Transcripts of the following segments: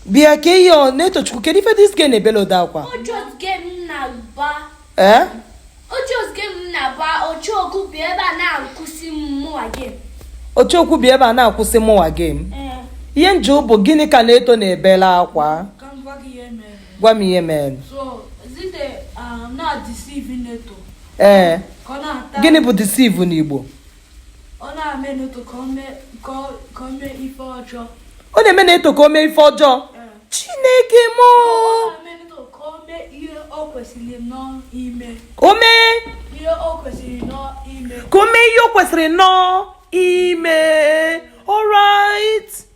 bịa ka ị yọọ Netochukwu kedu ife dis girl na-ebele ụdị akwa ee ọchọ okwu bịa ebe a na-akwụsị mụwa game ihe nje bụ gịnị ka Neto na-ebele akwa gwa m ihe mere ee gịnị bụ deceive n'Igbo ọ na-eme Neto ka o mee ife ọjọọ ọ na-eme Neto ka o mee ife ọjọọ chineke m o mee ka o mee ihe o kwesịrị nọọ ime alright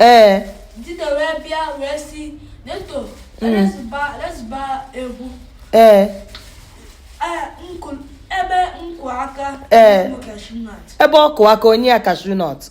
ee ee ebe ọ kụ aka o nye ya kashu nọt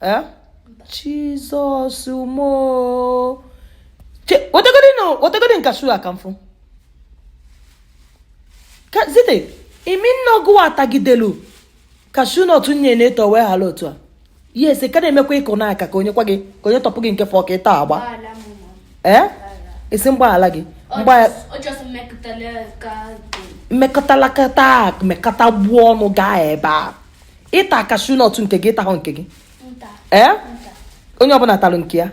eh? jizọs m o wetegodi m kashu a ka m fụ Zite ị mean na ọ gịwa tagidelu kashu nọtụ nye Neto wee hala otu a yes ị ka na-emekwa ị kụ n'aka ka o nyekwa gị ka o nyetụkwu gị nke fọ ka ị tagbaa ee eh? ị sị m gbaghara gị mmekọtalakata mekọta gbuo ọnụ gaa ebe a ị ta kashu nọt nke gị ị tahụ nke gị ee onye ọbụla talụ nke ya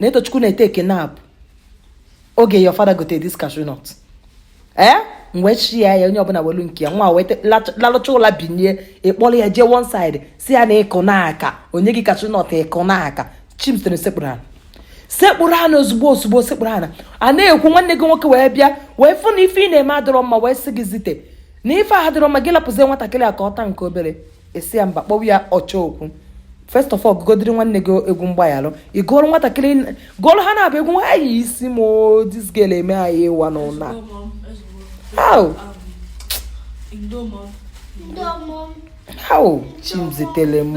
Netochukwu na-etake nap oge your father gote dis kashu nọt ee mgbe chi ya ya onye ọbụla welu nke ya nwa a wee lalụcha ụla binie ị kpọrọ ya jee one side sị ya na ị kụ n'aka o nye gị kashu nọt ị kụ n'aka Chimzitere sekpụrụ ala sekpụrụ ala ozugbo ozugbo sekpụrụ ala a na-ekwu nwanne gị nwoke wee bịa wee fụ na ife ị na-eme adịrọ mma wee sị gị Zite na ife a adịrọ mma gị lapụzie nwatakịrị a ka ọ taa nke obere ị sị ya mba kpọwa ya ọchọ okwu first of all gụgodiri nwanne gị egwu mgbaghalụ ị gụọrọ nwatakịrị gụọrọ ha na-abụ egwu hai isi m this girl eme anyị ịwa n'ụnọ a how Chimzitere m